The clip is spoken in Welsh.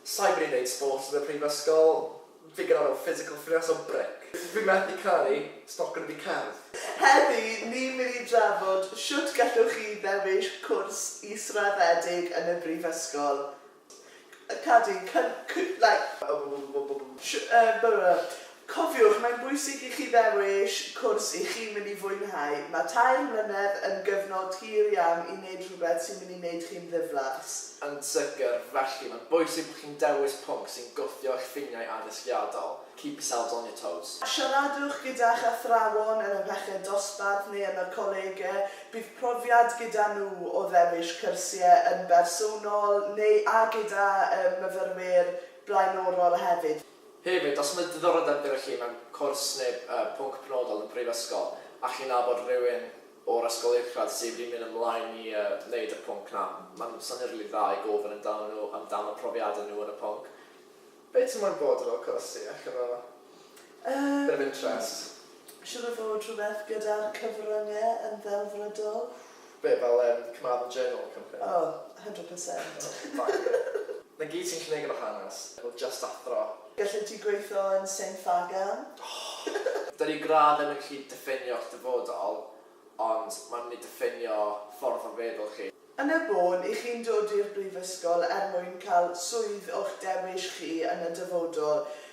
Sai wedi neud sports yn y prifysgol, fi'n gynnar o physical fitness o bric. Fi methu caru stoc yn y cardd. Heddi ni'n mynd i drafod shwt gallwch chi ddewis cwrs israddedig yn y brifysgol. Cadw yn cyn-, like. Cofiwch, mae'n bwysig i chi ddewis cwrs i chi'n mynd i fwynhau. Mae tair mlynedd yn gyfnod hir iawn i wneud rhywbeth sy'n mynd i wneud chi'n ddiflas. Yn sicr, felly, mae'n bwysig bod chi'n dewis pwnc sy'n gwthio eich ffiniau addysgiadol, keep yourselves on your toes. Siaradwch gyda'ch athrawon yn y peched dosbarth neu yn y colege, bydd profiad gyda nhw o ddewis cyrsiau yn bersonol neu a gyda myfyrwyr blaenorol hefyd. Hefyd, os mae diddordeb gyda chi mewn cwrs neu pwnc penodol yn y Brifysgol a chi'n nabod rhywun o'r Ysgol Uwchradd sydd wedi mynd ymlaen i wneud y pwnc 'na, mae'n syniad rili dda i gofyn amdanyn nhw amdano profiadau nhw yn y pwnc. Be ti moyn bod yn ol cwrs ti? Ella fo bit of interest. Siŵr o fod rhywbeth gyda'r cyfrynge yn ddelfrydol. Be, fel yym Carmarthen Journal company? O, hundred percent. O, bangio. 'Na gyd sy'n cneg efo hanes, efo jyst athro. Gallet ti gweitho yn Saint Faggan? Oh! Dydi gradd ddim yn gallu diffinio'ch dyfodol, ond mae'n mynd i diffinio ffordd o feddwl chi. Yn y bôn, 'y chi'n dod i'r brifysgol er mwyn cael swydd o'ch dewis chi yn y dyfodol.